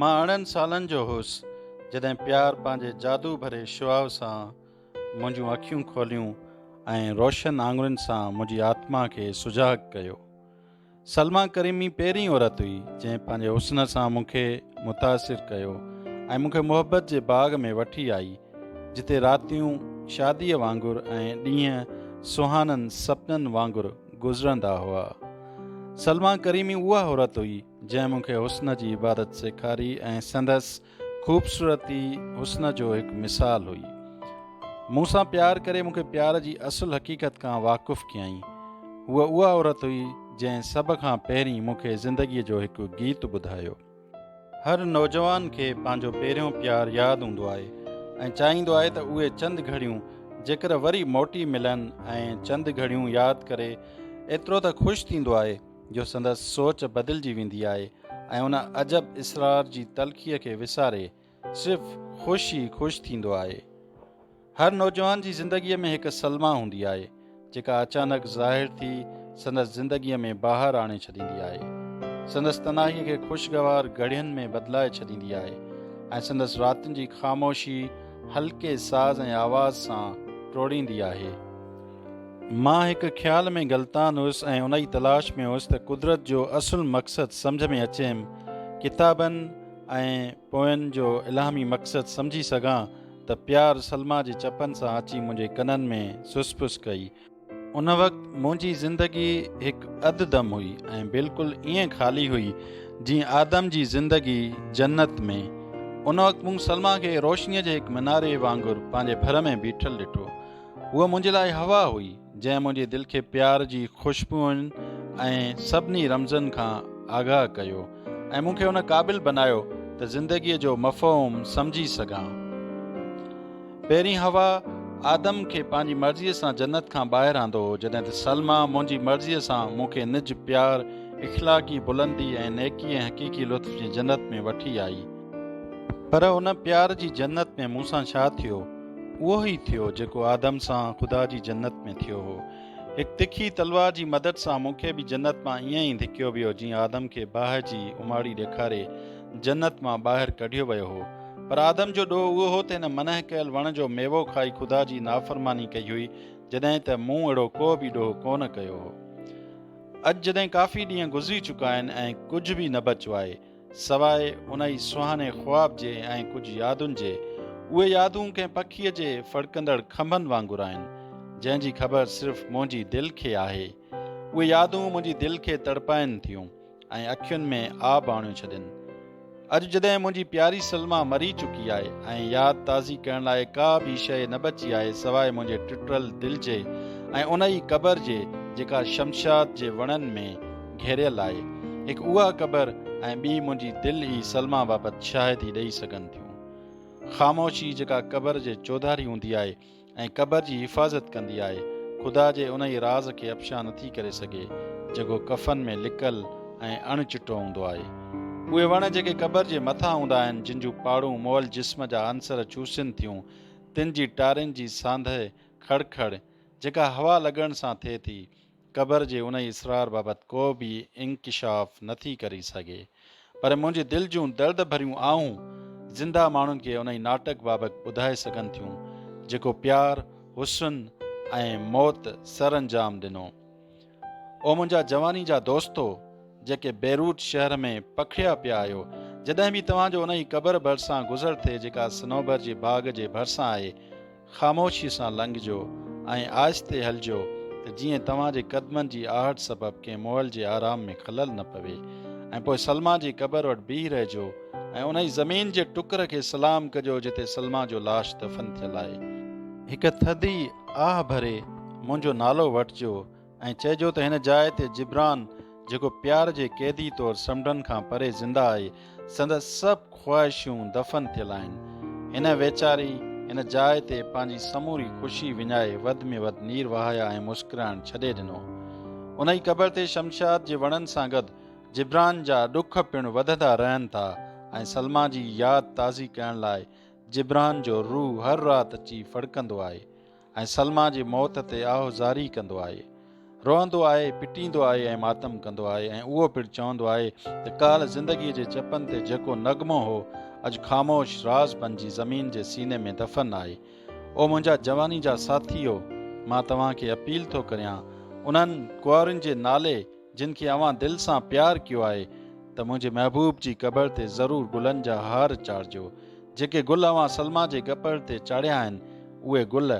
مان ارڙهن سالن جو هوس جڏهن پيار پنهنجي جادو ڀري شعاع سان منهنجون اکيون کوليون ۽ روشن آڱرين سان منهنجي آتما کي سجاڳ ڪيو. سلميٰ ڪريمي پهرين عورت هئي جنهن پنهنجي حسن سان مون کي متاثر ڪيو ۽ مون کي محبت جي باغ ۾ وٺي آئي جتي راتيون شاديء وانگر ۽ ڏينهن سهانن سپنن وانگر گذرندا هئا. سلميٰ ڪريمي اها عورت هئي، جنهن مون کي حسن جي عبادت سيکاري ۽ سندس خوبصورتي حسن جو هڪ مثال هئي. مون سان پيار ڪري مون کي پيار جي اصل حقيقت کان واقف ڪيائين. هوء اها عورت هئي، جنهن سڀ کان پهرين مون کي زندگيء جو هڪ گيت ٻڌايو. هر نوجوان کي پنهنجو پهريون پيار ياد هوندو آهي ۽ چاهيندو آهي ته اهي چند گهڙيون جيڪر وري موٽي ملن ۽ چند گهڙيون ياد ڪري ايترو ته خوش ٿيندو آهي جو سندس سوچ بدلجي ويندي آهي ۽ ان عجب اسرار جي تلخيء کي وساري صرف خوش ئي خوش ٿيندو آهي. هر نوجوان جي زندگيء ۾ هڪ سلما هوندي آهي، جيڪا اچانڪ ظاهر ٿي سندس زندگيء ۾ بهار آڻي ڇڏيندي آهي. سندس تنهائيء کي خوشگوار گهڙين ۾ بدلائي ڇڏيندي آهي ۽ سندس راتن جي خاموشي هلڪي ساز ۽ آواز سان ٽوڙيندي آهي. مان هڪ خيال ۾ غلطان هيس ۽ انهيء تلاش ۾ هيس ته قدرت جو اصل مقصد سمجهه ۾ اچيم. ڪتابن، ۽ پوين جو الهامي مقصد سمجهي سگهان ته پيار سلميٰ جي چپن سان اچي منهنجي ڪنن ۾ سس ڦس ڪئي. ان وقت منهنجي زندگي هڪ اڌ دم هئي ۽ بلڪل ائين خالي هئي جيئن آدم جي زندگي جنت ۾. ان وقت مون سلميٰ کي روشنيء جي هڪ مناري وانگر پنهنجي ڀر ۾ بيٺل ڏٺو. هوء منهنجي لاء هوا هئي. جنهن منهنجي دل کي پيار جي خوشبوئن ۽ سڀني رمزن کان آگاهه ڪيو ۽ مون کي ان قابل بنايو ته زندگيء جو مفهوم سمجهي سگهان. پهرين حوا آدم کي پنهنجي مرضيء سان جنت کان ٻاهر آندو هو جڏهن ته سلميٰ منهنجي مرضيء سان مون کي نج، پيار، اخلاقي بلندي ۽ نيڪي ۽ حقيقي لطف جي جنت ۾ وٺي آئي. پر ان پيار جي جنت ۾ مون سان ڇا ٿيو؟ اهو ئي ٿيو جيڪو آدم سان خدا جي جنت ۾ ٿيو هو. هڪ تکي تلوار جي مدد سان مون کي به جنت مان ائين ئي ڌڪيو ويو جيئن آدم کي باهه جي اماڙي ڏيکاري جنت مان ٻاهر ڪڍيو ويو هو. پر آدم جو ڏوهه اهو هو ته هن منع ڪيل وڻ جو ميوو کائي خدا جي نافرماني ڪئي هئي جڏهن ته مون اهڙو ڪو به ڏوهه ڪونه ڪيو هو. اڄ جڏهن ڪافي ڏينهن گذري چڪا آهن ۽ ڪجهه به نه بچو آهي سواء ان ئي سهاڻي خواب جي ۽ ڪجهه يادن جي، اهي يادون ڪنهن پکيء جي ڦڙڪندڙ کنڀن وانگر آهن، جنهن جي خبر صرف منهنجي دل کي آهي. اهي يادون منهنجي دل کي تڙپائين ٿيون ۽ اکين ۾ آب آڻيو ڇڏين. اڄ جڏهن منهنجي پياري سلميٰ مري چڪي آهي ۽ ياد تازي ڪرڻ لاء ڪا به شيء نه بچي آهي سواء منهنجي ٽٽل دل جي ۽ ان ئي قبر جي جيڪا شمشاد جي وڻن ۾ گهيريل آهي، هڪ اها قبر ۽ ٻي منهنجي دل ئي سلميٰ بابت شاهدي ڏئي سگهن ٿيون. خاموشي جيڪا قبر جي چوڌاري هوندي آهي ۽ قبر جي حفاظت ڪندي آهي، خدا جي انهيء راز کي افشا نٿي ڪري سگهي، جيڪو ڪفن ۾ لڪل ۽ اڻ چٽو هوندو آهي. اهي وڻ جيڪي قبر جي مٿان هوندا آهن، جن جون پاڙون مئل جسم جا عنصر چوسين ٿيون، تن جي ٽارين جي سانڌهه، کڙکڙ، جيڪا هوا لڳڻ سان ٿئي ٿي، قبر جي انهي اسرار بابت ڪو به انڪشاف نه ٿي ڪري سگهي پر منهنجي دل جون درد ڀريون آهون زنده ماڻهن کي انهي ناٽڪ بابت ٻڌائي سگهن ٿيون جيڪو پيار، حسن ۽ موت سر انجام ڏنو. او منهنجا جواني جا دوستو جيڪي بيروٽ شهر ۾ پکڙيا پيا آهيو جڏهن به توهان جو انهي قبر ڀرسان گذر ٿئي جيڪا صنوبر جي باغ جي ڀرسان آهي، خاموشيء سان لنگهجو ۽ آهستي هلجو ته جيئن توهان جي قدمن جي آهٽ سبب ڪنهن مئل جي آرام ۾ خلل نه پوي ۽ پوء سلما جي قبر وٽ بيهي رهجو ۽ انهي زمين جي ٽڪر کي سلام ڪجو جتي سلما جو لاش دفن ٿيل آهي. هڪ ٿڌي آهه ڀري منهنجو نالو وٺجو ائين چئجو ته هن جاء تي جبران جيڪو پيار جي قيدي طور سمنڊن کان پري زنده آهي، سندس سڀ خواهشون دفن ٿيل آهن. هن ويچاري هن جاء تي پنهنجي سموري خوشي وڃائي وڌ ۾ وڌ نير وهايا ۽ مسڪرائڻ ڇڏي ڏنو. انهي قبر تي شمشاد جي وڻن سان گڏ جبران جا ڏک پڻ وڌندا رهن ٿا ۽ سلميٰ جي ياد تازي ڪرڻ لاء جبران جو روح هر رات اچي ڦڙڪندو آهي. ۽ سلما جي موت تي آهه زاري ڪندو آهي. روئندو آهي، پٽيندو آهي ۽ ماتم ڪندو آهي ۽ اهو پڻ چوندو آهي ته ڪالهه زندگيء جي چپن تي جيڪو نغمو هو، اڄ خاموش راز بنجي زمين جي سيني ۾ دفن آهي. او منهنجا جواني جا ساٿيو! مان توهان کي اپيل ٿو ڪريان، انهن ڪنوارين جي نالي، جن کي اوهان دل سان پيار ڪيو آهي ته منهنجي محبوب جي قبر تي ضرور گلن جا هار چاڙهجو. جيڪي گل اوهان سلميٰ جي قبر تي چاڙهيا آهن، اهي گل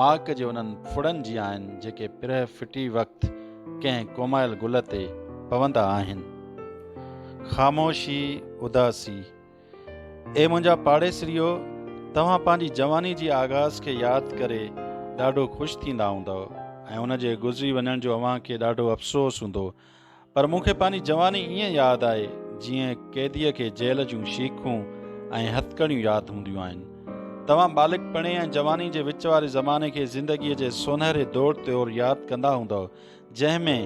ماڪ جي انهن ڦڙن جيان آهن، جيڪي پرهه ڦٽي وقت ڪنهن ڪومايل گل تي پوندا آهن. خاموشي، اداسي. اي منهنجا پاڙيسريو! توهان پنهنجي جواني جي آغاز کي ياد ڪري ڏاڍو خوش ٿيندا هوندؤ ۽ ان جي گذري وڃڻ جو اوهان کي ڏاڍو افسوس هوندو. پر مون کي پنهنجي جواني ائين ياد آهي جيئن قيديء کي جيل جون شيخون ۽ هٿڪڙيون ياد هونديون آهن. توهان ٻالڪپڻي ۽ جواني جي وچ واري زماني کي زندگيء جي سونهري دور طور ياد ڪندا هوندؤ، جنهن ۾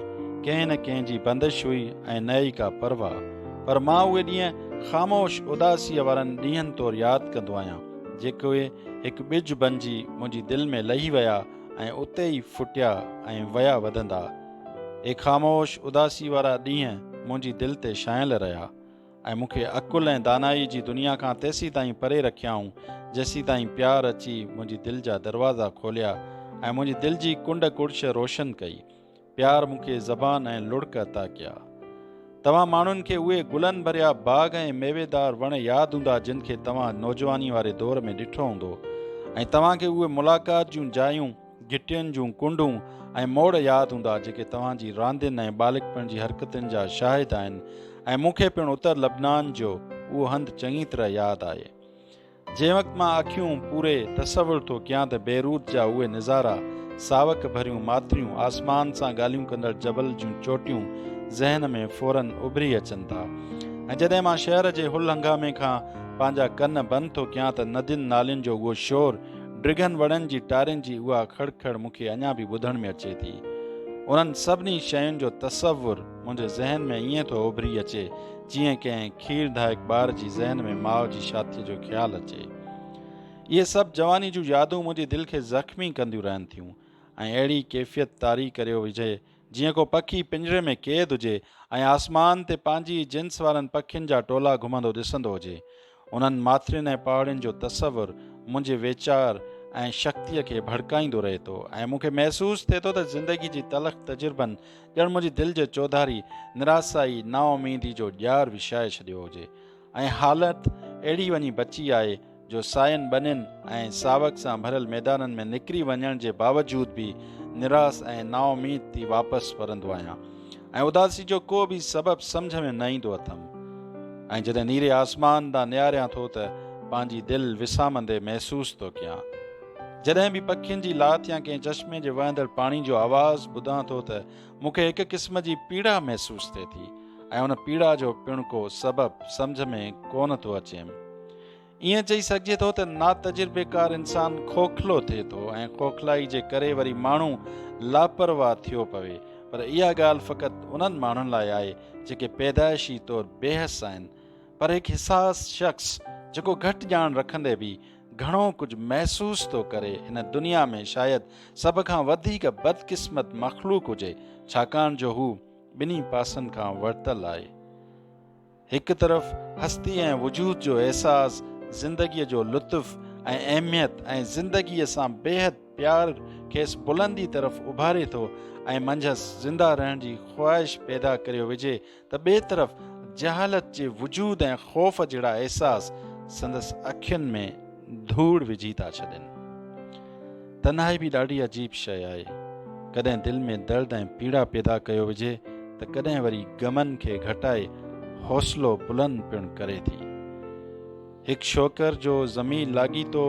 ڪنهن نه ڪنهن جي بندش هئي ۽ نه ئي ڪا پرواهه، پر مان اهي ڏينهن خاموش اداسيء وارن ڏينهن طور ياد ڪندو آهيان، جيڪي هڪ ٻج بنجي منهنجي دل ۾ لهي ويا ۽ اتي ئي ڦٽيا ۽ ويا وڌندا. اهي خاموش اداسيء وارا ڏينهن منهنجي دل تي ڇانيل رهيا. ۽ مون کي عقل ۽ دانائي جي دنيا کان تيسين تائين پري رکيائون جيسين تائين پيار اچي منهنجي دل جا دروازا کوليا ۽ منهنجي دل جي ڪنڊ ڪڙڇ روشن ڪئي. پيار مون کي زبان ۽ لڙڪ عطا ڪيا. توهان ماڻهن کي اهي گلن ڀريا باغ ۽ ميويدار وڻ ياد هوندا جن کي توهان نوجواني واري دور ۾ ڏٺو هوندو ۽ توهان کي اهي ملاقات جون جايون گهٽين جون ڪنڊون ۽ موڙ ياد هوندا جيڪي توهان جي راندين ۽ ٻالڪپڻ جي حرڪتن جا شاهد آهن ۽ مون کي پڻ اتر لبنان جو اهو هنڌ چڱي طرح ياد آهي جنهن وقت مان اکيون پوري تصور ٿو ڪيان ته بيروت جا اهي نظارا ساوڪ ڀريون ماتريون آسمان سان ڳالهيون ڪندڙ جبل جون چوٽيون ذهن ۾ فورن اڀري اچن ٿا ۽ جڏهن مان شهر جي هل هنگامي کان پنهنجا ڪن بند ٿو ڪيان ته ندين نالين جو اهو شور ڊگهن وڻن جي ٽارين جي اها کڙ کڙ مون کي اڃا به ٻڌڻ ۾ اچي ٿي انهن سڀني شين جو تصور منهنجي ذهن ۾ ائين ٿو اڀري اچي جيئن ڪنهن کير ڌائڪ ٻار جي ذهن ۾ ماء جي شاٿيء جو خيال اچي اهي سڀ جواني جون يادون منهنجي دل کي زخمي ڪنديون رهن ٿيون ۽ اهڙي ڪيفيت طاري ڪريو وجهي جيئن ڪو پکي پڃري ۾ قيد هجي ۽ آسمان تي پنهنجي ئي جنس وارن پکين جا ٽولا گهمندو ڏسندو هجي. انهن ماٿرين ۽ پهاڙين جو تصور منهنجي ويچار ۽ شڪتيء کي ڀڙڪائيندو رهي ٿو ۽ مون کي محسوس ٿئي ٿو ته زندگي جي تلخ تجربن ڄڻ منهنجي دل جي چوڌاري نراسائي، نااميدي جو ڄار وڇائي ڇڏيو هجي. ۽ حالت اهڙي وڃي بچي آهي جو ساين ٻنين ۽ ساوڪ سان ڀريل ميدانن ۾ نڪري وڃڻ جي باوجود به نراس ۽ نااميد ٿي واپس ورندو آهيان ۽ اداسي جو ڪو به سبب سمجهه ۾ نه ايندو اٿم ۽ جڏهن نيري آسمان ڏانهن نهاريان ٿو ته پنهنجي دل وسامندي محسوس ٿو ڪيان جڏهن به پکين جي لاٿ يا ڪنهن چشمي جي وهندڙ پاڻي جو آواز ٻڌان ٿو ته مون کي هڪ قسم جي پيڙا محسوس ٿئي ٿي ۽ ان پيڙا جو پڻ ڪو سبب سمجهه ۾ ڪونه ٿو اچيم. ائين چئي سگهجي ٿو ته ناتجربيڪار انسان کوکلو ٿئي ٿو ۽ کوکلائي جي ڪري وري ماڻهو لاپرواهه ٿيو پوي پر اها ڳالهه فقط انهن ماڻهن لاء آهي جيڪي پيدائشي طور بيحس آهن پر هڪ حساس شخص جيڪو گهٽ ڄاڻ رکندي به گهڻو ڪجهه محسوس ٿو ڪري هن دنيا ۾ شايد سڀ کان وڌيڪ بدقسمت مخلوق هجي ڇاڪاڻ جو هو ٻنهي پاسن کان ورتل آهي هڪ طرف هستي ۽ وجود جو احساس زندگي جو لطف ۽ اهميت ۽ زندگي سان بيحد پيار کيس بلندي طرف اڀاري ٿو ۽ منجهس زنده رهڻ جي خواهش پيدا ڪريو وجهي ته ٻئي طرف جهالت جي وجود ۽ خوف جهڙا احساس سندس اکين ۾ ڌوڙ وجهي ٿا ڇڏين تنهائي به ڏاڍي عجيب شيء آهي ڪڏهن دل ۾ درد ۽ پيڙا پيدا ڪيو وجهي ته ڪڏهن وري غمن کي گهٽائي حوصلو بلند پڻ ڪري ٿي هڪ شوڪر جو زمين لاڳيتو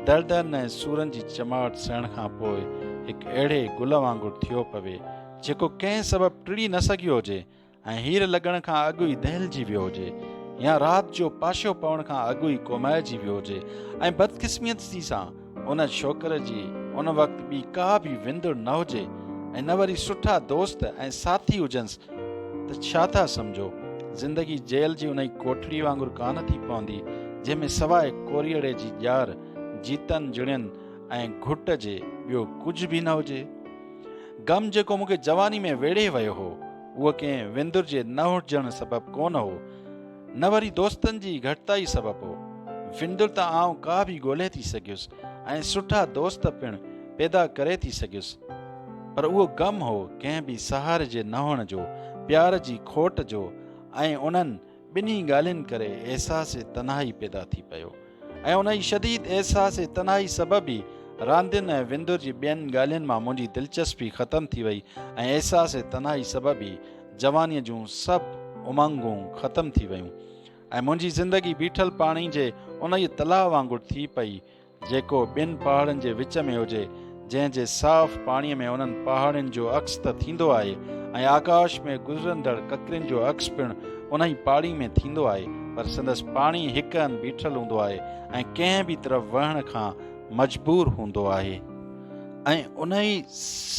دڙدن ۽ سورن جي چماٽ سهڻ کان پوء هڪ اهڙي گل وانگر ٿيو پوي، جيڪو ڪنهن سبب ٽڙي نه سگهيو هجي ۽ هير لڳڻ کان اڳ ئي دهلجي ويو هجي يا رات جو پاشو پوڻ کان اڳ ئي ڪومائجي ويو هجي ۽ بدقسميتي سان ان ڇوڪر جي ان وقت ٻي ڪا به وندڙ نه هجي ۽ نه وري سٺا دوست ۽ ساٿي هجنس ته ڇا ٿا سمجهو زندگي جيل جي انهي ڪوٺڙي وانگر ڪانه ٿي پوندي جنهن ۾ سواء ڪوريئڙي جي ڄار جيتن جڻين ۽ گهٽ جي ٻيو ڪجهه به نه هجي غم جيڪو مونکي جواني ۾ ويڙهي ويو هو اهو ڪنهن وندر جي نه هجڻ سبب ڪونه هو نه وري دوستن جي گهٽتائي سبب هو. وندر ته آئون ڪا به ڳولهي ٿي سگهيس ۽ سٺا دوست پڻ پيدا ڪري ٿي سگهيس پر اهو غم هو ڪنهن به سهاري جي نه هئڻ جو، پيار جي کوٽ جو ۽ انهن ٻنهي ڳالهين ڪري احساس تنهائي پيدا ٿي پيو. ۽ ان ئي شديد احساس تنهائي سبب ئي راندين ۽ وندر جي ٻين ڳالهين مان منهنجي دلچسپي ختم ٿي وئي ۽ احساس تنهائي سبب ئي جوانيء جون سڀ امنگون ختم ٿي ويون ۽ منهنجي زندگي بيٺل پاڻي جي انهيء تلاء وانگر ٿي پئي جيڪو ٻن پهاڙن جي وچ ۾ هجي جنهن جي صاف پاڻي ۾ انهن پهاڙين جو عڪس ته ٿيندو آهي ۽ آڪاش ۾ گذرندڙ ڪڪرين جو عڪس پڻ انهي پاڙي ۾ ٿيندو آهي پر سندس پاڻي هڪ هنڌ بيٺل هوندو آهي ۽ ڪنهن به طرف وهڻ کان مجبور هوندو آهي ۽ انهي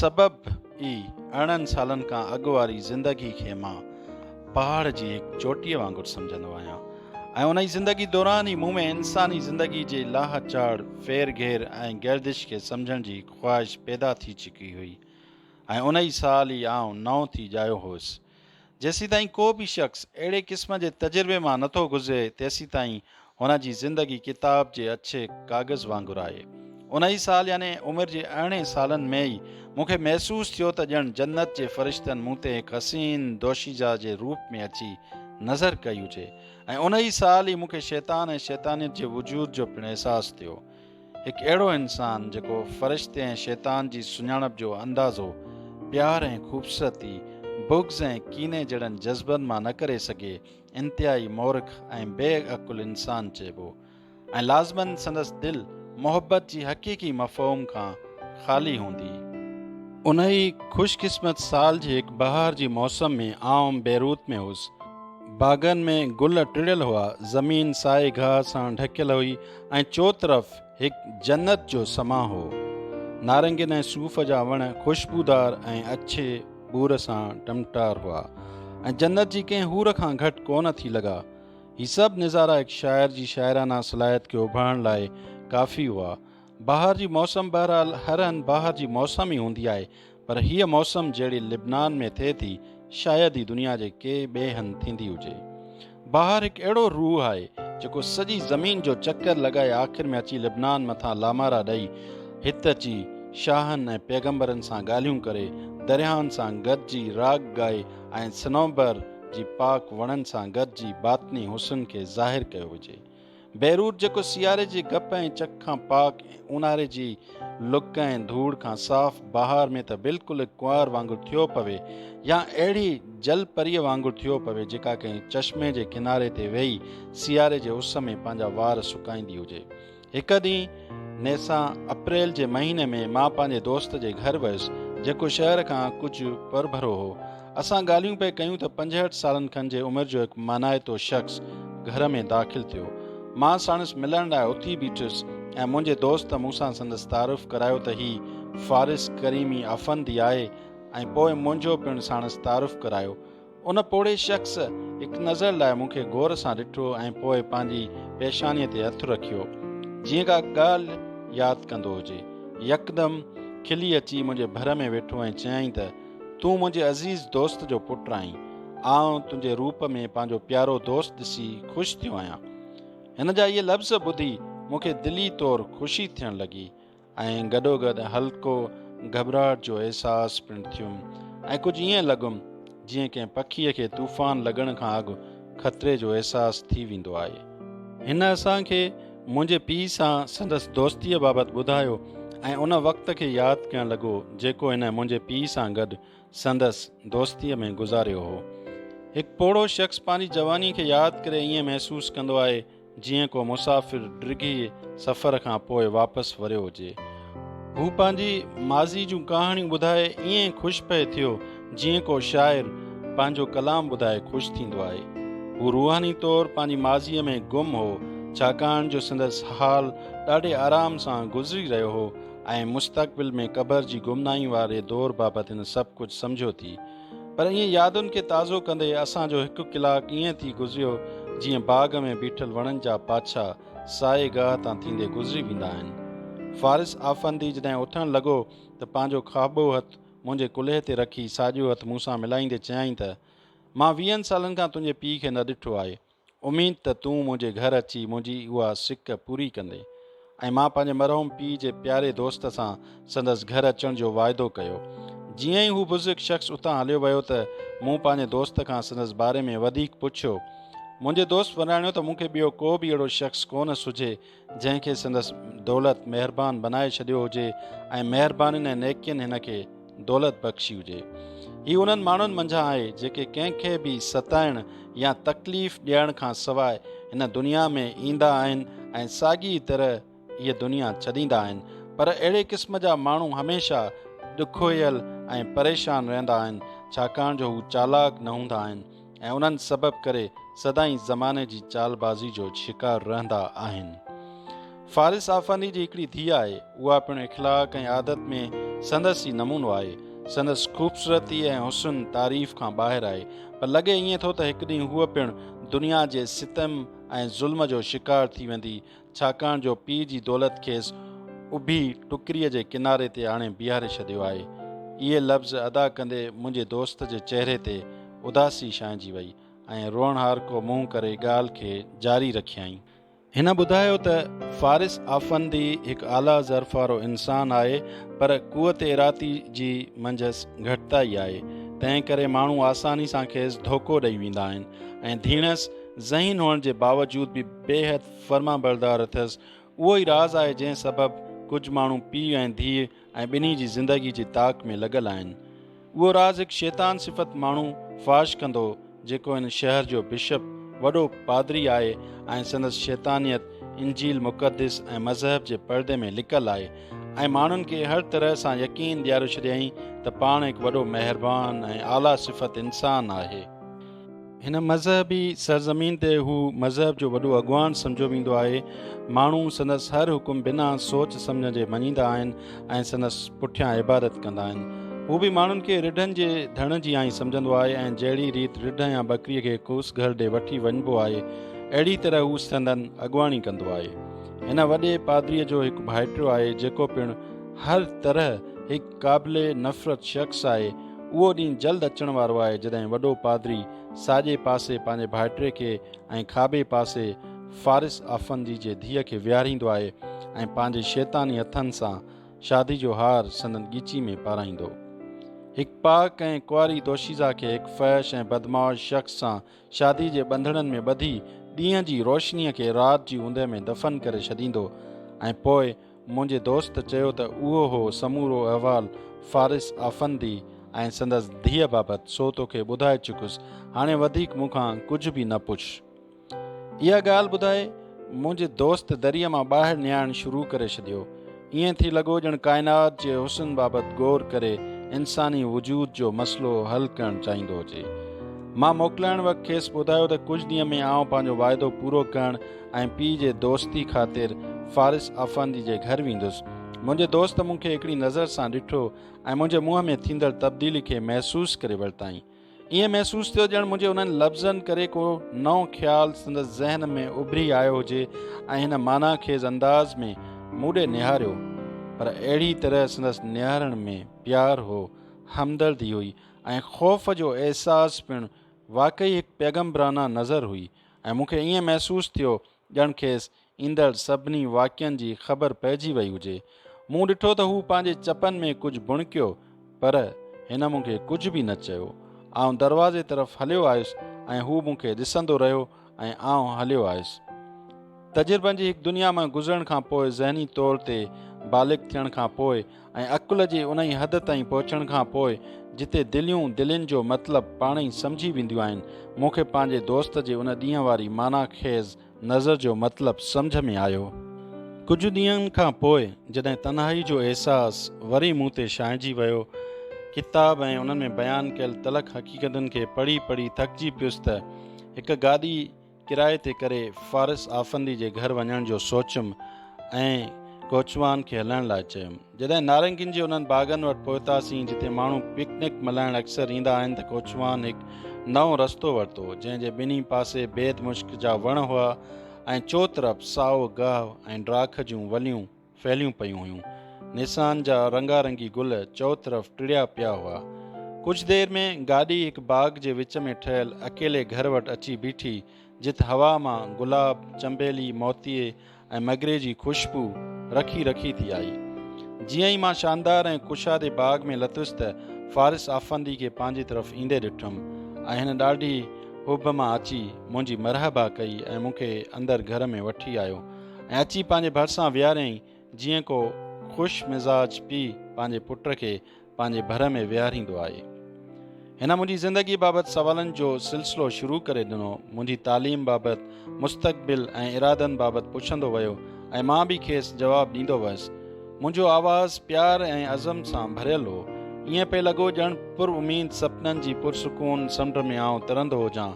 سبب ئي ارڙهن سالن کان اڳ واري زندگي کي مان پهاڙ جي هڪ چوٽيء وانگر سمجهندو آهيان ۽ انهي زندگي دوران ئي مون ۾ انساني زندگي جي لاهه چاڙهه، ڦير گهير ۽ گردش کي سمجهڻ جي خواهش پيدا ٿي چڪي هئي ۽ انهي سال ئي آئون نئون ٿي ڄايو هوس. جيسيتائين ڪو به شخص اهڙي قسم جي تجربي مان نٿو گذري، تيسيتائين هن جي زندگي ڪتاب جي اڇي ڪاغذ وانگر آهي. انهيء سال يعني عمر جي ارڙهن سالن ۾ ئي مون کي محسوس ٿيو ته ڄڻ جنت جي فرشتن مون تي هڪ حسين دوشيزه جي روپ ۾ اچي نظر ڪئي هجي ۽ انهيء سال ئي مون کي شيطان ۽ شيطانيت جي وجود جو پڻ احساس ٿيو. هڪ اهڙو انسان جيڪو فرشتي ۽ شيطان جي سڃاڻپ جو اندازو پيار ۽ خوبصورتي، بغض ۽ ڪيني جهڙن جذبن مان نه ڪري سگهي، انتهائي مورک ۽ بي عقل انسان چئبو ۽ لازماً سندس دل محبت جي حقيقي مفهوم کان خالي هوندي. انهيء خوش قسمت سال جي هڪ بهار جي موسم ۾ آئون بيروت ۾ هوس. باغن ۾ گل ٽڙيل هئا، زمين سائي گاهه سان ڍڪيل هئي، ۽ چوطرف هڪ جنت جو سما هو. نارنگين ۽ صوف جا وڻ خوشبودار ۽ اڇي ٻور سان ٽمٽار هئا ۽ جنت جي ڪنهن حور کان گهٽ ڪونه ٿي لڳا. هي سڀ نظارا هڪ شاعر جي شاعرانه صلاحيت کي اڀارڻ لاء ڪافي هئا. بهار جي موسم بهرحال هر هنڌ بهار جي موسم ئي هوندي آهي پر هيء موسم جهڙي لبنان ۾ ٿئي ٿي، شايد ئي دنيا جي ڪي ٻئي هنڌ ٿيندي هجي. بهار هڪ اهڙو روح آهي، جيڪو سڄي زمين جو چڪر لڳائي آخر ۾ اچي لبنان مٿان لامارا ڏئي، هت اچي شاهن ۽ پيغمبرن سان ڳالهيون ڪري، درياهن سان گڏجي راڳ ڳائي ۽ صنوبر جي پاڪ وڻن سان گڏجي باطني حسن کي ظاهر ڪيو وجهي. بيروت جيڪو سياري جي گپ ۽ چڪ کان پاڪ ۽ اونهاري جي لڪ ۽ ڌوڙ کان صاف، بهار ۾ ته بلڪل ڪنوار وانگر ٿيو پوي يا اهڙي جل پريء وانگر ٿيو پوي جيڪا ڪنهن چشمي جي ڪناري تي ويهي سياري جي اس ۾ پنهنجا وار سڪائيندي هجي. هڪ ڏينهن نيسان اپريل جي مهيني ۾ مان پنهنجي دوست جي گهر ويس جيڪو شهر کان ڪجهه پرڀرو هو. اسان ڳالهيون پئي ڪيون ته پنجهٺ سالن کن جي عمر جو هڪ مانائتو شخص گهر ۾ داخل ٿيو. مان ساڻس ملڻ لاء اٿي بيٺس ۽ منهنجي دوست مون سان سندس تعارف ڪرايو ته هي فارس ڪريمي افندي آهي ۽ پوء منهنجو پڻ ساڻس تعارف ڪرايو. ان پوڙهي شخص هڪ نظر لاء مون کي غور سان ڏٺو ۽ پوء پنهنجي پيشانيء تي هٿ رکيو جيئن ڪا ڳالهه ياد ڪندو هجي. يڪدم کلي اچي منهنجي ڀر ۾ ويٺو ۽ چيائين ته، تون منهنجي عزيز دوست جو پٽ آهين. آئون تنهنجي روپ ۾ پنهنجو پيارو دوست ڏسي خوش ٿيو آهيان. هن جا اهي لفظ ٻڌي مون کي دلي طور خوشي ٿيڻ لڳي ۽ گڏوگڏ هلڪو گهٻراهٽ جو احساس پڻ ٿيم ۽ ڪجهه ائين لڳم جيئن ڪنهن پکيء کي طوفان لڳڻ کان اڳ خطري جو احساس ٿي ويندو آهي. هن اسان کي منهنجي پيء سان سندس دوستيء بابت ٻڌايو ۽ ان وقت کي ياد ڪيڻ لڳو جيڪو هن منهنجي پيء سان گڏ سندس دوستيء ۾ گذاريو هو. هڪ پوڙهو شخص پنهنجي جوانيء کي ياد ڪري ائين محسوس ڪندو آهي جيئن ڪو مسافر ڊگهي سفر کان پوء واپس وريو هجي. هو پنهنجي ماضي جون ڪهاڻيون ٻڌائي ائين خوش پئي ٿيو جيئن ڪو شاعر پنهنجو ڪلام ٻڌائي خوش ٿيندو آهي. هو روحاني طور پنهنجي ماضيء ۾ گم هو، ڇاڪاڻ جو سندس حال ڏاڍي آرام سان گذري رهيو هو ۽ مستقبل ۾ قبر جي گمنامي واري دور بابت هن سڀ ڪجهه سمجهيو ٿي. پر ائين يادن کي تازو ڪندي اسان جو هڪ ڪلاڪ ائين ٿي گذريو جيئن باغ ۾ بيٺل وڻن جا پاڇا سائي گاهه تان ٿيندي گذري ويندا آهن. فارس آفندي جڏهن اٿڻ لڳو ته پنهنجو کاٻو هٿ منهنجي ڪلهي تي رکي ساڄو هٿ مون سان ملائيندي چيائين ته، مان ويهن سالن کان تنهنجي پيء کي نه ڏٺو آهي. اميد ته تون منهنجي گهر اچي منهنجي اها سڪ پوري ڪندين. ۽ مان پنهنجي مرحوم پيء جي پياري دوست سان سندس گهر اچڻ جو واعدو ڪيو. جيئن ئي هو بزرگ شخص اتان هليو ويو ته مون پنهنجي دوست کان سندس باري ۾ وڌيڪ پڇيو. منهنجي دوست وراڻيو ته مون کي ٻيو ڪو به اهڙو شخص ڪونه سجهي جنهن کي سندس دولت مهربان بنائي ڇڏيو هجي ۽ مهربانين ۽ نيڪين هن کي دولت بخشي هجي. هي انهن ماڻهن منجهان آهي جيڪي ڪنهن کي به ستائڻ يا تڪليف ڏيڻ کان سواء هن دنيا ۾ ايندا آهن ۽ ساڳي طرح هيء دنيا ڇڏيندا آهن پر اهڙي قسم جا ماڻهو هميشه ڏکويل ۽ پريشان رهندا آهن ڇاڪاڻ جو هو چالاڪ نه هوندا آهن ۽ انهن سبب ڪري سدائين زماني جي چالبازي جو شڪار رهندا آهن. فارس آفندي جي هڪڙي ڌيء آهي، اها پڻ اخلاق ۽ عادت ۾ سندس ئي نمونو آهي. سندس خوبصورتي ۽ حسن تعريف کان ٻاهر آهي، پر لڳي ائين ٿو ته هڪ ڏينهن هوء پڻ دنيا جي ستم ۽ ظلم جو شڪار ٿي ويندي ڇاڪاڻ جو پيء جي دولت کيس اڀي ٽڪريء جي ڪناري تي آڻي بيهاري ڇڏيو آهي. اهي لفظ ادا ڪندي منهنجي دوست جي چهري تي اداسي ڇانئجي وئي ۽ روئڻهارڪو منهن ڪري ڳالهه کي جاري رکيائين. هن ٻڌايو ته فارس آفندي هڪ اعليٰ ظرف وارو انسان آهي پر قوت ارادي جي منجهس گهٽتائي آهي، تنهن ڪري ماڻهو آساني سان کيس ڌوڪو ڏئي ويندا آهن ۽ ڌيڻس ذهين هئڻ جي باوجود به بيحد فرمانبردار اٿس، اهو ئي راز آهي جنهن سبب ڪجهه ماڻهو پيء ۽ ڌيء ۽ ٻنهي جي زندگي جي تاڪ ۾ لڳل آهن. اهو راز هڪ شيطان صفت ماڻهو فاش ڪندو جيڪو هن شهر جو بشپ، وڏو پادري، آهي ۽ سندس شيطانيت انجيل مقدس ۽ مذهب جي پردي ۾ لڪل آهي ۽ ماڻهن کي هر طرح سان يقين ڏياري ڇڏيائين ته پاڻ هڪ وڏو مهربان ۽ اعليٰ صفت انسان آهي. هن مذهبي سرزمين تي هو مذهب جو وڏو اڳواڻ سمجهيو ويندو آهي. ماڻهو سندس هر حڪم بنا سوچ سمجهڻ جي مڃيندا آهن ۽ سندس پٺيان عبادت ڪندا آهن. هو به ماڻهن کي رڍن جي ڌڻ جي آئين سمجهندو آهي ۽ جهڙي ريت رڍ يا ٻڪري کي ڪوس گهر ڏي وٺي وڃبو آهي، اهڙي طرح هو سندن اڳواڻي ڪندو آهي. هن وڏي پادريء جو هڪ ڀائٽيو آهي، جيڪو پڻ هر طرح هڪ. قابل نفرت شخص آهي. اهو ڏينهن جلد اچڻ وارو آهي جڏهن وڏو پادري ساڄي پاسي پنهنجي ڀائٽي کي ۽ کاٻي پاسي فارس آفندي جي ڌيء کي ويهاريندو آهي ۽ پنهنجي شيطاني هٿن سان شادي جو هار سندن ڳچي ۾ پارائيندو. هڪ پاڪ ۽ ڪنواري دوشيزه کي هڪ فحش ۽ بدمعاش شخص سان شادي جي ٻنڌڻن ۾ ٻڌي ڏينهن جي روشنيء کي رات جي اوندهه ۾ دفن ڪري ڇڏيندو ۽ پوء منهنجي دوست چيو ته اهو هو سمورو احوال فارس آفندي ۽ سندس ڌيء بابت، سو توکي ٻڌائي چڪس، هاڻي وڌيڪ مون کان ڪجهه به نه پڇ. اها ڳالهه ٻڌائي، منهنجي دوست دريء مان ٻاهر نهاڻ شروع ڪري ڇڏيو. ائين ٿي لڳو ڄڻ ڪائنات جي حسن بابت غور ڪري انساني وجود جو مسئلو حل ڪرڻ چاهيندو هجي. مان موڪلائڻ وقت کيس ٻڌايو ته ڪجهه ڏينهن ۾ آئون پنهنجو واعدو پورو ڪرڻ ۽ پيء جي دوستي خاطر فارس آفندي جي گهر ويندس. منهنجي دوست مون کي هڪڙي نظر سان ڏٺو ۽ منهنجي منهن ۾ ٿيندڙ تبديلي کي محسوس ڪري ورتائين. ائين محسوس ٿيو ڄڻ منهنجي انهن لفظن ڪري ڪو نئون خيال سندس ذهن ۾ اڀري آيو هجي ۽ هن معنيٰ خيز انداز ۾ مون ڏي نهاريو. پر اهڙي طرح سندس نهارڻ ۾ پيار هو، همدردي هئي ۽ خوف جو احساس پڻ واقعي هڪ پيغمبرانه نظر هئي. ۽ مون کي ائين محسوس ٿيو ڄڻ کيس ايندڙ سڀني واقعن جي خبر پئجي وئي هجي. مون ڏٺو ته هو پنهنجي چپن ۾ ڪجهه بڻڪيو پر هن مون کي ڪجهه به نه چيو. آئون دروازي طرف هليو آيس ۽ هو مون کي ڏسندو رهيو ۽ آئون هليو آيس. تجربن جي هڪ دنيا مان گذرڻ کان پوء ذهني طور تي بالغ ٿيڻ کان پوء ۽ عقل جي انهي حد تائين پهچڻ کان پوء جتي دليون دلين جو مطلب پاڻ ئي سمجهي وينديون آهن. مون کي پنهنجي دوست جي ان ڏينهن واري معنيٰ خيز نظر جو مطلب سمجهه ۾ آيو. ڪجهه ڏينهن کان پوء جڏهن تنهائي جو احساس وري مون تي ڇانئجي ويو، ڪتاب ۽ انهن ۾ بيان ڪيل تلخ حقيقتن کي پڙهي پڙهي ٿڪجي پيس ته هڪ گاڏي، ڪرائي تي ڪري فارس آفندي جي گهر وڃڻ جو سوچيم ۽ ڪوچوان کي هلڻ لاء چيم. جڏهن نارنگين جي انهن باغن وٽ پهتاسين جتي ماڻهو پڪنڪ ملهائڻ اڪثر ايندا آهن ته ڪوچوان هڪ نئون رستو ورتو جنهن جي ٻنهي پاسي بيد مشڪ جا وڻ هئا ۽ چوطرف سائو گهه ۽ ڊاک جون وليون ڦهليون پيون هيون. نيسان جا رنگا رنگي گل چؤطرف ٽڙيا پيا هئا. ڪجهه دير ۾ گاڏي هڪ باغ جي وچ ۾ ٺهيل اڪيلي گهر وٽ اچي بيٺي، جت هوا مان گلاب، چنبيلي، موتيي ۽ مگري جي خوشبو رکي رکي ٿي آئي. جيئن ئي مان شاندار ۽ ڪشادي باغ ۾ لٿس ته فارس آفندي کي پنهنجي طرف ايندي ڏٺم ۽ هن ڏاڍي حب مان اچي منهنجي مرحبا ڪئي ۽ مون کي اندر گهر ۾ وٺي آيو. ۽ اچي پنهنجي ڀرسان ويهاريائين جيئن ڪو خوش مزاج پيء پنهنجي پٽ کي پنهنجي ڀر ۾ ويهاريندو آهي. هن منهنجي زندگي بابت سوالن جو سلسلو شروع ڪري ڏنو، منهنجي تعليم بابت، مستقبل ۽ ارادن بابت پڇندو ويو ۽ مان به کيس جواب ڏيندو ويس. منهنجو آواز پيار ۽ عزم سان ڀريل هو. ائين پئي لڳو ڄڻ پر اميد سپنن جي پرسڪون سمنڊ ۾ آئون ترندو هجان.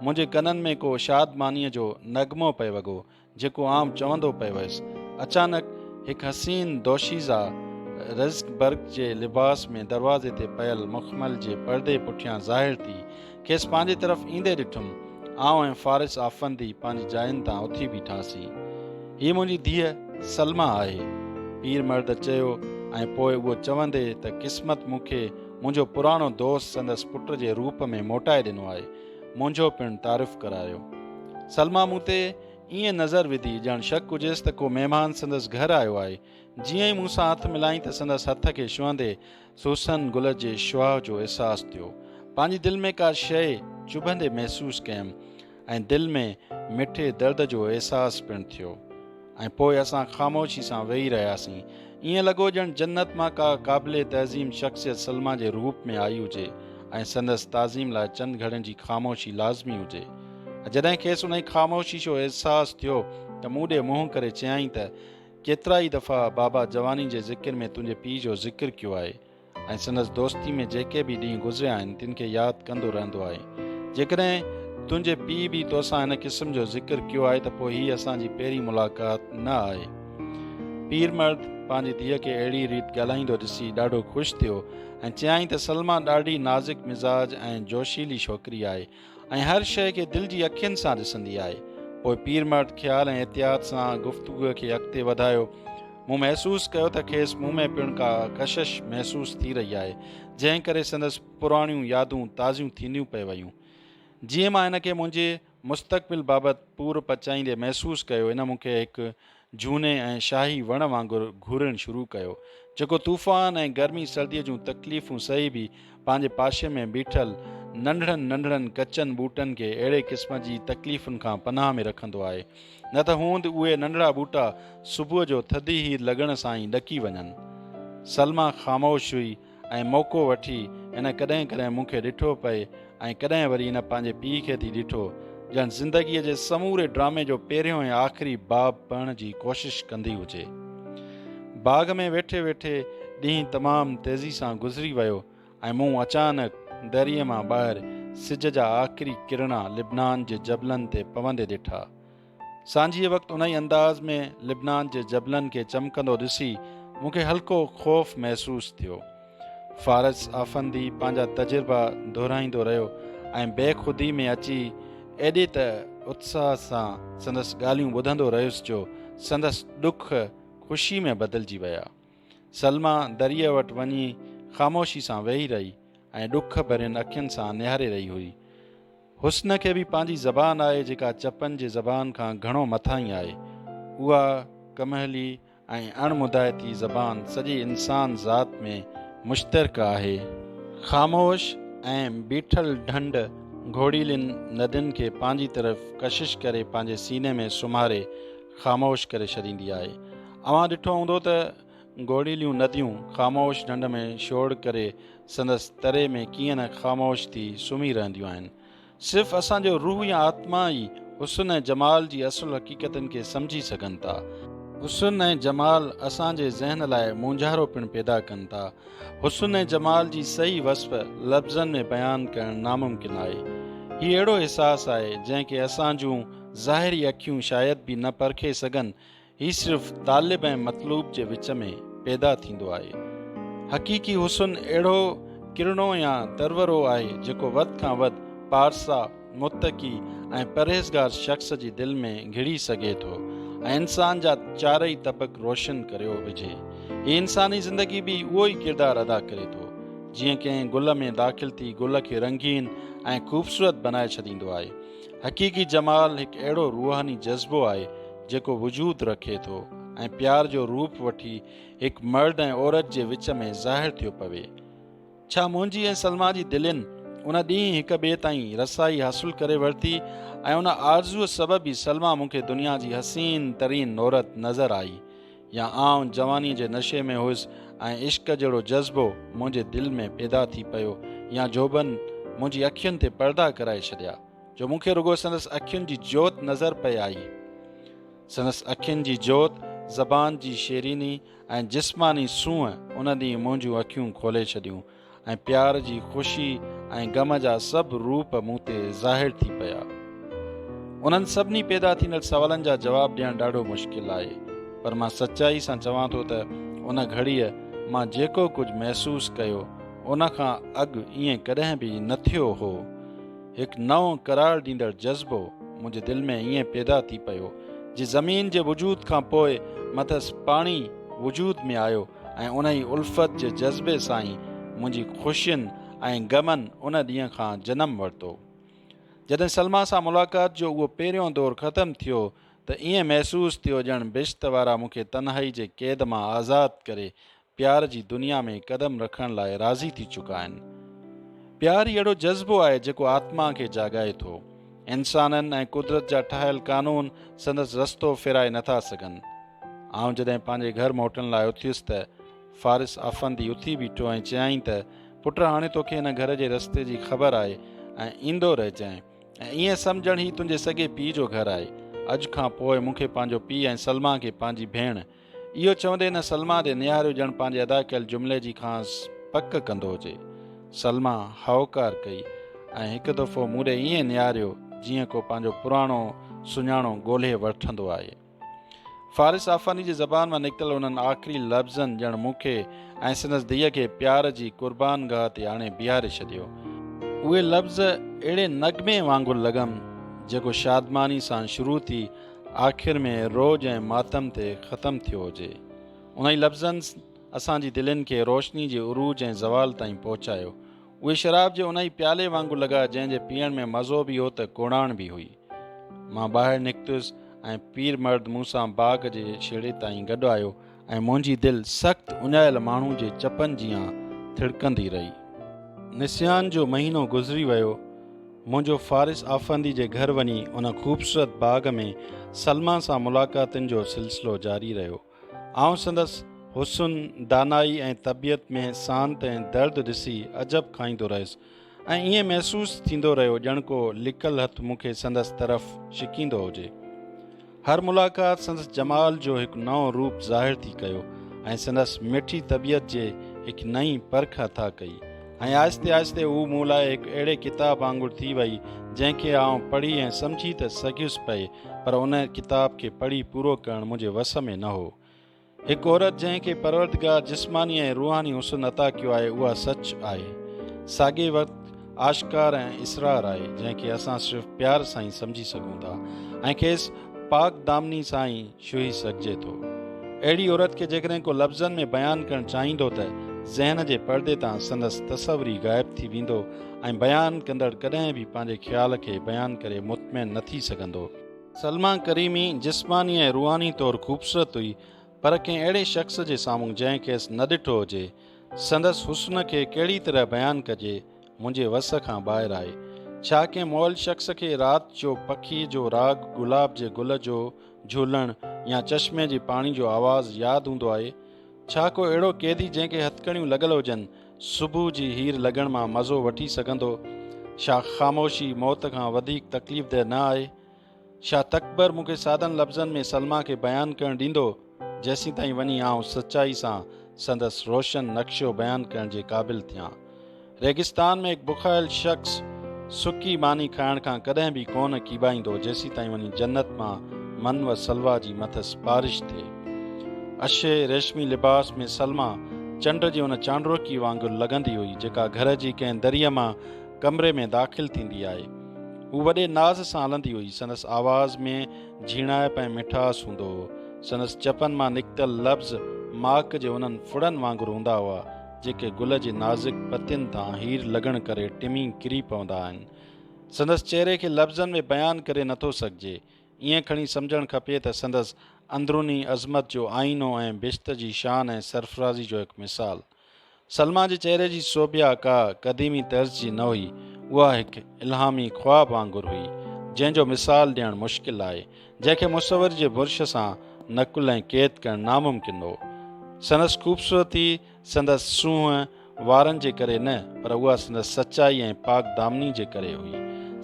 منهنجي ڪنن ۾ ڪو شادمانيء جو نغمو پئي وڳو. جيڪو آئون چوندو پئي ويس. اچانڪ هڪ حسين دوشيزه رزق برق جي لباس ۾ دروازي تي پيل مخمل جي پردي پٺيان ظاهر ٿي، کيس پنهنجي طرف ايندي ڏٺم. آئون ۽ فارس آفندي پنهنجي جاين تان اٿي بيٺاسين. هيء منهنجي ڌيء سلميٰ آهي. پير مرد چيو ۽ پوء اهو چوندي ته قسمت مون کي منهنجو پراڻو دوست سندس پٽ جي روپ ۾ موٽائي ڏنو آهي. منهنجو پڻ تعارف ڪرايو. سلما مون تي ائين نظر وڌي ڄڻ شڪ هجيس ته ڪو مهمان سندس گهر آيو آهي. جيئن ئي مون سان هٿ ملائين ته سندس هٿ کي ڇهندي سوسن گل جي شوهه جو احساس ٿيو. پنهنجي دل ۾ ڪا شيء چڀندي محسوس ڪيم ۽ دل ۾ مٺي درد جو احساس پڻ ٿيو. ۽ پوء اسان خاموشي سان ويهي رهياسين. ائين لڳو ڄڻ جنت مان ڪا قابل تعظيم شخصيت سلميٰ جي روپ ۾ آئي هجي ۽ سندس تعظيم لاء چند گهڙين جي خاموشي لازمي هجي. جڏهن کيس انهي خاموشي جو احساس ٿيو ته مون ڏي منهن ڪري چيائين ته، ڪيترائي دفعا بابا جواني جي ذڪر ۾ تنهنجي پيء جو ذڪر ڪيو آهي. ۽ سندس دوستي ۾ جيڪي به ڏينهن گذريا آهن تن کي ياد ڪندو رهندو آهي. جيڪڏهن تنهنجي پيء به توسان هن قسم جو ذڪر ڪيو آهي ته پوء هي اسان جي پهرين ملاقات نه آهي. پير مرد پنهنجي ڌيء کي اهڙي ريت ڳالهائيندو ڏسي ڏاڍو خوش ٿيو ۽ چيائين ته سلميٰ ڏاڍي نازڪ مزاج ۽ جوشيلي ڇوڪري آهي. ۽ هر شيء کي دل جي اکين سان ڏسندي آهي. پوء پير مرد خيال ۽ احتياط سان گفتگوء کي اڳتي وڌايو. مون محسوس ڪيو ته کيس مون ۾ پڻ ڪا ڪشش محسوس ٿي رهي آهي، جنهن ڪري سندس پراڻيون يادون تازيون ٿينديون پئي ويون. جيئن مان هن کي منهنجي مستقبل بابت پور پچائيندي محسوس ڪيو، هن مون کي هڪ جهوني ۽ شاهي وڻ وانگر گهورڻ شروع ڪيو، جيڪو طوفان ۽ گرمي سرديء جون تڪليفون سهي به پنهنجي پاشي ۾ بيٺل ننڍڙن ننڍڙن ڪچن ٻوٽن کي اهڙي قسم جي تڪليفن کان پناهه ۾ رکندو آهي، نه ته هوند اهي ننڍڙا ٻوٽا صبح جو ٿڌي هير لڳڻ سان ئي ڏڪي وڃن. سلميٰ خاموش هئي. ۽ موقعو وٺي هن ڪڏهن ڪڏهن مون کي ڏٺو پئي ۽ ڪڏهن وري هن پنهنجي پيء کي ٿي ڏٺو، ڄڻ زندگيء جي سموري ڊرامي جو پهريون ۽ آخري باب پڙهڻ جي ڪوشش ڪندي هجي. باغ ۾ ويٺي ويٺي ڏينهن تمام تيزي سان گذري ويو ۽ مون اچانڪ دريء مان ٻاهر سج جا آخري ڪرڻا لبنان جي جبلن تي پوندي ڏٺا. سانجهيء وقت انهيء انداز ۾ لبنان جي جبلن کي چمڪندو ڏسي مون کي هلڪو خوف محسوس ٿيو. فارس آفندي پنهنجا تجربا دهرائيندو رهيو ۽ بي خودي ۾ اچي ايڏي ته اتساهه سان سندس ڳالهيون ٻڌندو رهيس جو سندس ڏک خوشي ۾ بدلجي ويا. سلميٰ دريء وٽ وڃي خاموشي سان ويهي رهي ۽ ڏک ڀرين اکين سان نهاري رهي هئي. حسن کي به پنهنجي زبان آهي جيڪا چپن جي زبان کان گهڻو مٿاهين آهي. اها ڪمهلي ۽ اڻ مدايتي زبان سڄي انسان ذات ۾ مشترڪ آهي. خاموش ۽ بيٺل ڍنڍ گهوڙيلين ندين کي پنهنجي طرف ڪشش ڪري پنهنجي سيني ۾ سمهاري خاموش ڪري ڇڏيندي آهي. اوهان ڏٺو هوندو ته گوڙيليون نديون خاموش ڍنڍ ۾ شور ڪري سندس تري ۾ ڪيئن نه خاموش ٿي سمهي رهنديون آهن. صرف اسان جو روح يا آتما ئي حسن ۽ جمال جي اصل حقيقتن کي سمجهي سگهن ٿا. حسن ۽ جمال اسان جي ذهن لاء مونجهارو پڻ پيدا ڪن ٿا. حسن ۽ جمال جي صحيح وصف لفظن ۾ بيان ڪرڻ ناممڪن آهي. هي اهڙو احساس آهي جنهن کي اسان جون ظاهري اکيون شايد به نه پرکي سگهن هي صرف طالب ۽ مطلوب جي وچ ۾ پيدا ٿيندو آهي. حقيقي حسن اهڙو ڪرڻو يا درورو آهي جيڪو وڌ کان وڌ پارسا، متقي ۽ پرهيزگار شخص جي دل ۾ گهڙي سگهي ٿو ۽ انسان جا چارئي طبق روشن ڪريو وجهي. هي انساني زندگي به اهو ئي ڪردار ادا ڪري ٿو. جيئن ڪنهن گل ۾ داخل ٿي گل کي رنگين ۽ خوبصورت بنائي ڇڏيندو آهي. حقيقي جمال هڪ اهڙو روحاني جذبو آهي جيڪو وجود رکي ٿو ۽ پيار جو روپ وٺي هڪ مرد ۽ عورت جي وچ ۾ ظاهر ٿيو پوي. ڇا منهنجي ۽ سلما جي دلين ان ڏينهن هڪ ٻئي تائين رسائي حاصل ڪري ورتي ۽ ان آرزوء سبب ئي سلما مون کي دنيا جي حسين ترين عورت نظر آئي. يا آئون جوانيء جي نشي ۾ هيس ۽ عشق جهڙو جذبو منهنجي دل ۾ پيدا ٿي پيو يا جوڀن منهنجي اکين تي پردا ڪرائي ڇڏيا جو مون کي رڳو سندس اکين جي جوت نظر پئي آئي. سندس اکين جي جوت، زبان جي شيريني ۽ جسماني سونهن ان ڏينهن منهنجون اکيون کولي ڇڏيون. ۽ پيار جي خوشي ۽ غم جا سڀ روپ مون تي ظاهر ٿي پيا. انهن سڀني پيدا ٿيندڙ سوالن جا جواب ڏيڻ ڏاڍو مشڪل آهي، پر مان سچائي سان چوان ٿو ته ان گهڙيء مان جيڪو ڪجهه محسوس ڪيو، ان کان اڳ ائين ڪڏهن به نه ٿيو هو. هڪ نئون قرار ڏيندڙ جذبو منهنجي دل ۾ ائين پيدا ٿي پيو، جي زمين جي وجود کان پوء مٿس پاڻي وجود ۾ آيو، ۽ انهي الفت جي جذبي سان ئي منهنجي خوشين ۽ غمن ان ڏينهن کان جنم ورتو. جڏهن سلميٰ سان ملاقات جو اهو پهريون دور ختم ٿيو ته ائين محسوس ٿيو ڄڻ بهشت وارا مون کي تنهائي جي قيد مان آزاد ڪري پيار جي دنيا ۾ قدم رکڻ لاء راضي ٿي چڪا آهن. پيار ئي اهڙو جذبو آهي جيڪو آتما کي جاڳائي ٿو. انسانن ۽ قدرت جا ٺاهيل قانون سندس رستو ڦيرائي نه ٿا سگهن. آئون جڏهن پنهنجي گهر موٽڻ لاء اٿيس ته فارس آفندي اٿي بيٺو ۽ چيائين ته پٽ هاڻي توکي هن گهر جي رستي جي خبر آهي ۽ ايندو رهجانء ۽ ائين سمجهڻ هي تنهنجي سڳي پيء جو گهر آهي اڄ کان پوء مون کي پنهنجو پيء ۽ سلميٰ کي پنهنجي ڀيڻ اهو چوندي هن سلما ڏي نهاريو ڄڻ پنهنجي ادا ڪيل جملي جي کانئس پڪ ڪندو هجي. سلما هائوڪار ڪئي ۽ هڪ دفعو مون ڏي ائين نهاريو جيئن ڪو پنهنجو پراڻو سڃاڻو ڳولهي وٺندو آهي. فارس آفاني جي زبان مان نڪتل انهن آخري لفظن ڄڻ مون کي ۽ سندس ڌيء کي پيار جي قربان گاهه تي آڻي بيهاري ڇڏيو. اهي لفظ اهڙي نغمي وانگر لڳم جيڪو شادماني سان شروع ٿي آخر ۾ روڄ ۽ ماتم تي ختم ٿيو هجي. انهي لفظن اسان جي دلين کي روشني جي عروج ۽ زوال تائين پهچايو. اهي شراب جي انهي پيالي وانگر لڳا جنهن جي پيئڻ ۾ مزو به هو ته ڪوڙاڻ به هئي. مان ٻاهر نڪتس ۽ پير مرد مون سان باغ جي ڇيڙي تائين گڏ آيو. ۽ منهنجي دل سخت اڃايل ماڻهو جي چپن جيان ٿڙڪندي رهي. نسيان جو مهينو گذري ويو. منهنجو فارس آفندي جي گهر وڃي ان خوبصورت باغ ۾ سلميٰ سان ملاقاتن جو سلسلو جاري رهيو. آئون سندس حسن، دانائي ۽ طبيعت ۾ سانت ۽ درد ڏسي عجب کائيندو رهيس. ۽ ائين محسوس ٿيندو رهيو ڄڻ ڪو لڪل هٿ مون کي سندس طرف ڇڪيندو هجي. هر ملاقات سندس جمال جو هڪ نئون روپ ظاهر ٿي ڪيو ۽ سندس مٺي طبيعت جي هڪ نئين پرک عطا ڪئي ۽ آهستي آهستي هو مون لاء هڪ اهڙي ڪتاب وانگر ٿي وئي جنهن کي آئون پڙهي ۽ سمجهي ته سگهيس پئي پر ان ڪتاب کي پڙهي پورو ڪرڻ منهنجي وس ۾ نه هو. هڪ عورت جنهن کي پروردگار جسماني ۽ روحاني حسن عطا ڪيو آهي اها سچ آهي ساڳئي وقت آشڪار ۽ اسرار آهي جنهن کي اسان صرف پيار سان ئي سمجهي سگهون ٿا ۽ کيس پاڪ دامني سان ئي شهي سگهجي ٿو اهڙي عورت کي جيڪڏهن ڪو لفظن ۾ بيان ڪرڻ چاهيندو ته ذهن جي پردي تان سندس تصور ئي غائب ٿي ويندو ۽ بيان ڪندڙ ڪڏهن به پنهنجي خيال کي بيان ڪري مطمئن نه ٿي سگهندو سلميٰ ڪريمي جسماني ۽ روحاني طور خوبصورت هئي پر ڪنهن اهڙي شخص جي سامهون جنهن کيس نه ڏٺو هجي. سندس حسن کي ڪهڙي طرح بيان ڪجي منهنجي وس کان ٻاهر آهي. ڇا ڪنهن مئل شخص کي رات جو پکي جو راڳ، گلاب جي گل جو جهولڻ يا چشمي جي پاڻي جو آواز ياد هوندو آهي؟ ڇا ڪو اهڙو قيدي جنهن کي هٿڪڙيون لڳل هجن، صبح جي هير لڳڻ مان مزو وٺي سگهندو. ڇا خاموشي موت کان وڌيڪ تڪليف ده نه آهي؟ ڇا تڪبر مون کي سادن لفظن ۾ سلما کي بيان ڪرڻ ڏيندو، جيسين تائين وڃي آئون سچائي سان سندس روشن نقشو بيان ڪرڻ جي قابل ٿيان؟ ريگستان ۾ هڪ بکايل شخص سڪي ماني کائڻ کان ڪڏهن به ڪونه ڪيٻائيندو، جيسين تائين وڃي جنت مان من و سلويٰ جي مٿس بارش ٿئي. اڇي ريشمي لباس ۾ سلميٰ چنڊ جي ان چانڊروڪي وانگر لڳندي هئي، جيڪا گهر جي ڪنهن دريء مان ڪمري ۾ داخل ٿيندي آهي. هو وڏي ناز سان هلندي هئي. سندس آواز ۾ جهيڻائپ ۽ مٺاس هوندو هو. سندس چپن مان نڪتل لفظ ماڪ جي انهن ڦڙن وانگر هوندا هئا، جيڪي گل جي نازڪ پتين تان هير لڳڻ ڪري ٽمي ڪري پوندا آهن. سندس چهري کي لفظن ۾ بيان ڪري نٿو سگهجي. ائين کڻي سمجهڻ کپي ته سندس اندروني عظمت جو آئينو ۽ بهشت جي شان ۽ سرفرازي جو هڪ مثال. سلميٰ جي چهري جي سوڀيا ڪا قديمي طرز جي نه هئي، اها هڪ الهامي خواب وانگر هئي، جنهن جو مثال ڏيڻ مشڪل آهي، جنهن کي مصور جي برش سان نقل ۽ قيد ڪرڻ ناممڪن هو. سندس خوبصورتي سندس سونهن وارن جي ڪري نه، پر اها سندس سچائي ۽ پاڪدامني جي ڪري هئي.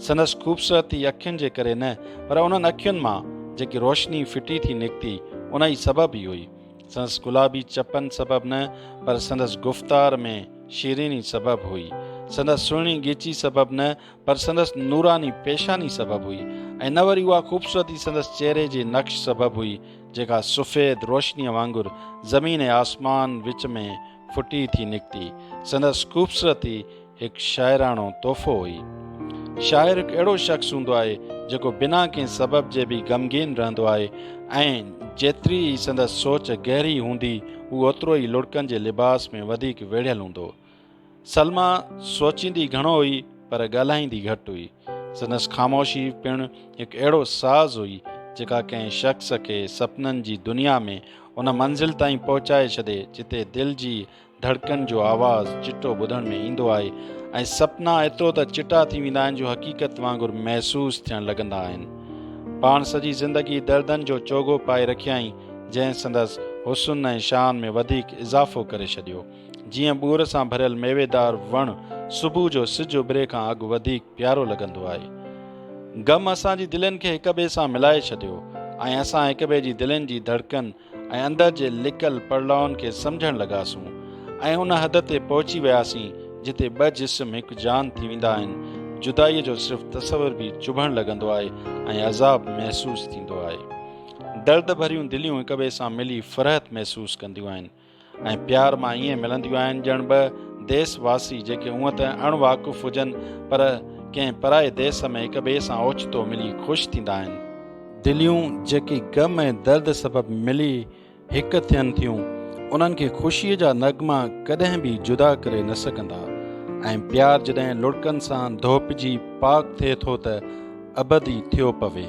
سندس خوبصورتي اکين جي ڪري نه، پر انهن اکين مان جيڪي روشني ڦٽي ٿي نڪتي، ان ئي سبب ئي هئي. سندس گلابي چپن سبب نه، پر سندس گفتار ۾ شيريني سبب هئي. سندس سهڻي ڳيچي سبب نه، پر سندس نوراني پيشاني سبب هئي ۽ نه وري اها خوبصورتي سندس چهري جي نقش سبب هئي، جيڪا سفيد روشنيء وانگر زمين ۽ آسمان وچ ۾ ڦٽي ٿي نڪتي. سندس خوبصورتي هڪ شاعراڻو تحفو هئي. شاعر هڪ اهڙو شخص هوندو آهي، جيڪو بنا ڪنهن سبب جي به غمگين رهندو آهي ۽ جيتري ئي سندس سوچ گهري هوندي، هو اوترو ئي لڙڪن جي لباس ۾ وڌيڪ ويڙهيل هوندو. سلميٰ سوچيندي گهڻو هئي پر ڳالهائيندي گهٽ هئي. سندس خاموشي پڻ هڪ اهڙو ساز هئي، جيڪا ڪنهن شخص کي سپنن جي دنيا ۾ ان منزل تائين پهچائي ڇڏي، جتي دل جي ڌڙڪن جو آواز چٽو ٻڌڻ ۾ ايندو آهي ۽ سپنا ايترو ته چٽا ٿي ويندا آهن جو حقيقت وانگر محسوس ٿيڻ لڳندا آهن. پاڻ سڄي زندگي دردن جو چوغو پائي رکيائين، جنهن سندس حسن ۽ شان ۾ وڌيڪ اضافو ڪري ڇڏيو. جيئن ٻور سان ڀريل ميويدار وڻ صبح جو سج اڀري کان اڳ وڌيڪ پيارو لڳندو آهي. غم اسان جي دلين کي هڪ ٻئي سان ملائي ڇڏيو ۽ اسان هڪ ٻئي جي دلين جي ڌڙڪن ۽ اندر جي لڪل پڙلاون کي سمجهڻ لڳاسون ۽ ان حد تي پهچي وياسين جتي ٻه جسم هڪ جان ٿي ويندا آهن، جدائيء جو صرف تصور به چڀڻ لڳندو آهي ۽ عذاب محسوس ٿيندو آهي. درد ڀريون دليون هڪ ٻئي سان ملي فرحت محسوس ڪنديون آهن. ۽ پيار مان ائين ملنديون آهن ڄڻ ٻه ديس واسي جيڪي هونء ته اڻ واقف هجن پر ڪنهن پرائي ديس ۾ هڪ ٻئي سان اوچتو ملي خوش ٿيندا آهن. دليون جيڪي غم ۽ درد سبب ملي هڪ ٿين ٿيون انهن کي خوشيء جا نغما ڪڏهن به جدا ڪري نه سگهندا ۽ پيار جڏهن لڙڪن سان ڌوپجي پاڪ ٿئي ٿو ته ابد ئي ٿيو پوي.